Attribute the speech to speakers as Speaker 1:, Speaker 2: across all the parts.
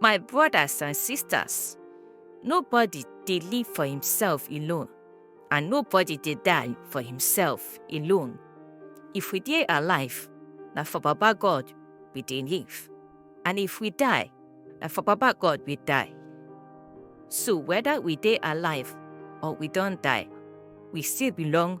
Speaker 1: My brothers and sisters, nobody dey live for himself alone, and nobody dey die for himself alone. If we dey alive, na for Baba God we dey live, and if we die, na for Baba God we die. So whether we dey alive or we don die, we still belong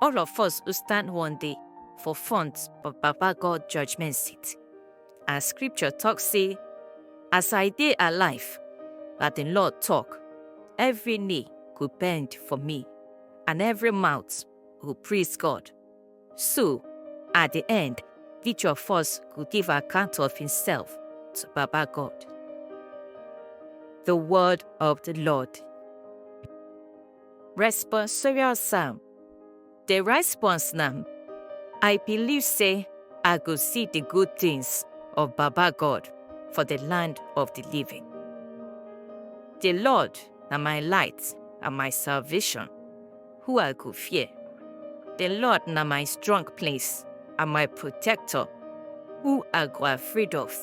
Speaker 1: All of us will stand one day for front of Baba God judgment seat. And scripture talk say, as I dey alive, that the Lord talk, every knee go bend for me, and every mouth go praise God. So, at the end, each of us go give account of himself to Baba God. The word of the Lord. Responsorial Psalm. The response na I believe say I go see the good things of Baba God for the land of the living. The Lord na my light and my salvation, who I go fear. The Lord na my strong place and my protector, who I go afraid of.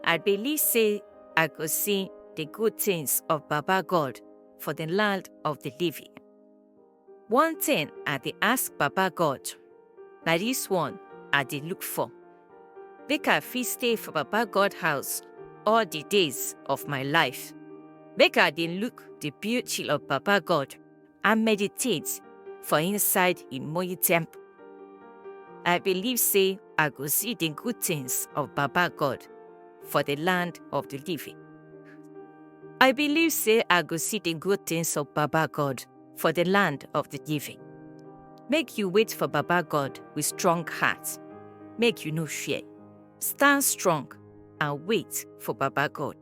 Speaker 1: I believe say I go see the good things of Baba God for the land of the living. One thing I dey ask Baba God, na this one I dey look for. Make I fit stay for Baba God house all the days of my life. Make I dey look the beauty of Baba God and meditate for inside im holy temple. I believe say I go see the good things of Baba God for the land of the living. I believe say I go see the good things of Baba God for the land of the living. Make you wait for Baba God with strong heart. Make you no fear. Stand strong and wait for Baba God.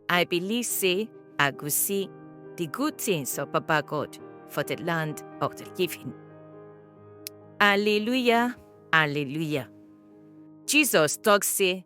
Speaker 1: I believe say I go see the good things of Baba God for the land of the living. Alleluia, alleluia. Jesus talk say,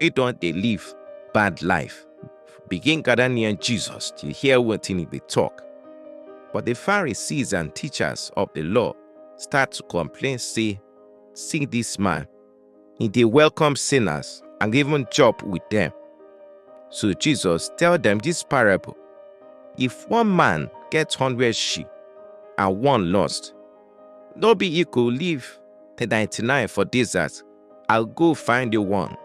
Speaker 2: He don dey live bad life. Begin gather near Jesus to hear wetin he dey talk. But the Pharisees and teachers of the law start to complain say, See this man, he dey welcome sinners and even chop with them. So Jesus tell them this parable. If one man get hundred sheep and one lost, no be he go leave the 99 for desert I go find the one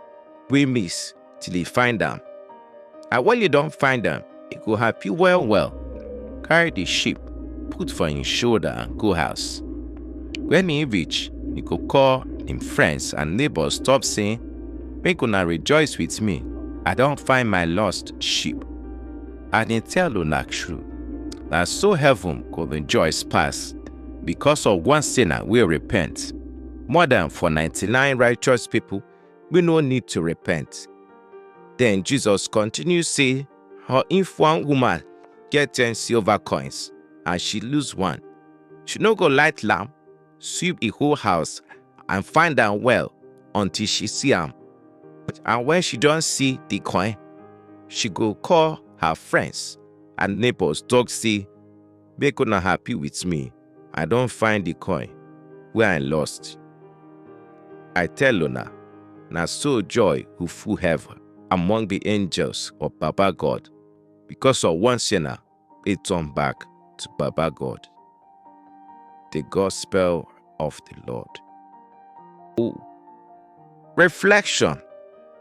Speaker 2: we miss till he find them. And when you don't find them, it go happy well well. Carry the sheep, put for his shoulder and go house. When he reach, he go call him friends and neighbors stop saying, Make una rejoice with me. I don't find my lost sheep. And he tell una true. Na so heaven go rejoice pass because of one sinner will repent. More than for 99 righteous people, we no need to repent. Then Jesus continues say, her if one woman get 10 silver coins and she lose one, she no go light lamp, sweep the whole house and find am well until she see am. And when she don't see the coin, she go call her friends and neighbors talk say, make una happy with me i don find the coin wey i lost i tell una na so joy go full heaven among the angels of baba god because of one sinner wey turn back to baba god the gospel of the lord oh reflection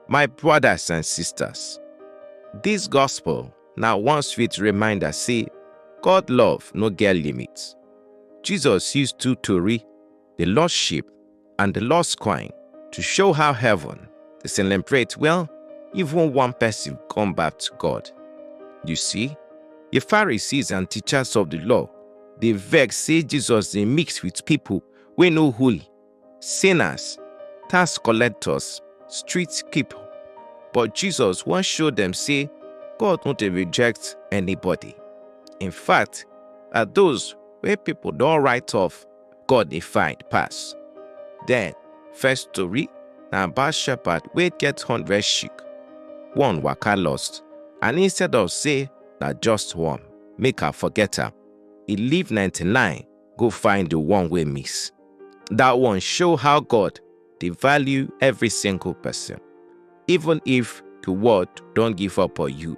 Speaker 2: my brothers and sisters this gospel na one sweet reminder say God love no get limit. Jesus use two tori, the lost sheep and the lost coin, to show how heaven dey celebrate when even one person come back to God. You see, the Pharisees and teachers of the law dey vex say Jesus dey mix with people wey no holy sinners, tax collectors, street people. But Jesus wan show dem say God no dey reject anybody. In fact, na those wey people don write off God dey find pass. Then, first story na about shepherd wey get hundred sheep. One waka lost and instead of say na just one, make I forget am, e leave 99 go find the one wey miss. That one show how God dey value every single person. Even if the world don give up on you,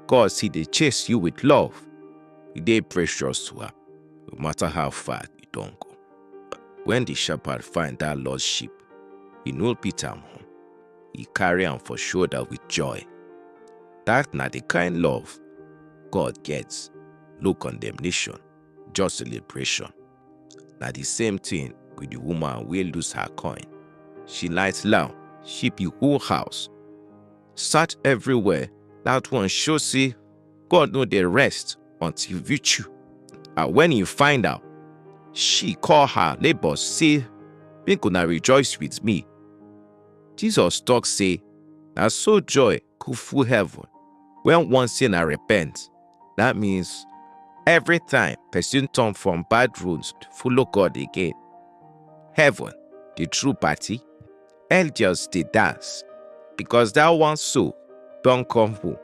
Speaker 2: God still dey chase you with love. You dey precious to am, no matter how far you don go. When the shepherd find that lost sheep, he no beat am home. He carry am for shoulder with joy. That na the kind love God gets, no condemnation. just celebration. Na the same thing with the woman wey lose her coin. She light lamp, she the whole house. Search everywhere, that one show say God no dey rest until reach you. And when he find out, she call her neighbors say, make una rejoice with me. Jesus talk say, na so joy go full heaven. When one say na repent, that means every time person turn from bad roads to follow God again, heaven, the true party, angels dey dance because that one soul don come home.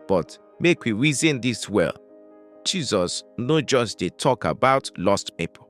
Speaker 2: But make we reason this well, Jesus no just dey talk about lost people.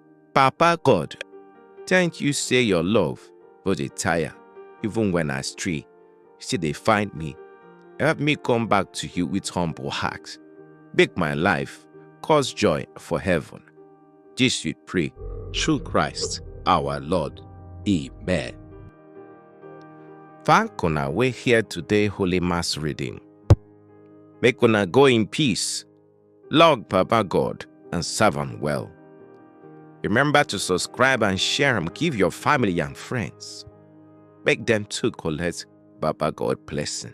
Speaker 2: Papa God, thank you say your love no dey tire even when I stray, you still dey find me. Help me come back to you with humble heart. Make my life cause joy for heaven. This we pray through Christ our Lord. Amen. Thank una wey hear today Holy Mass reading. Make una go in peace. Log Papa God and serve am well. Remember to subscribe and share am give your family and friends. Make dem too collect Baba God blessing.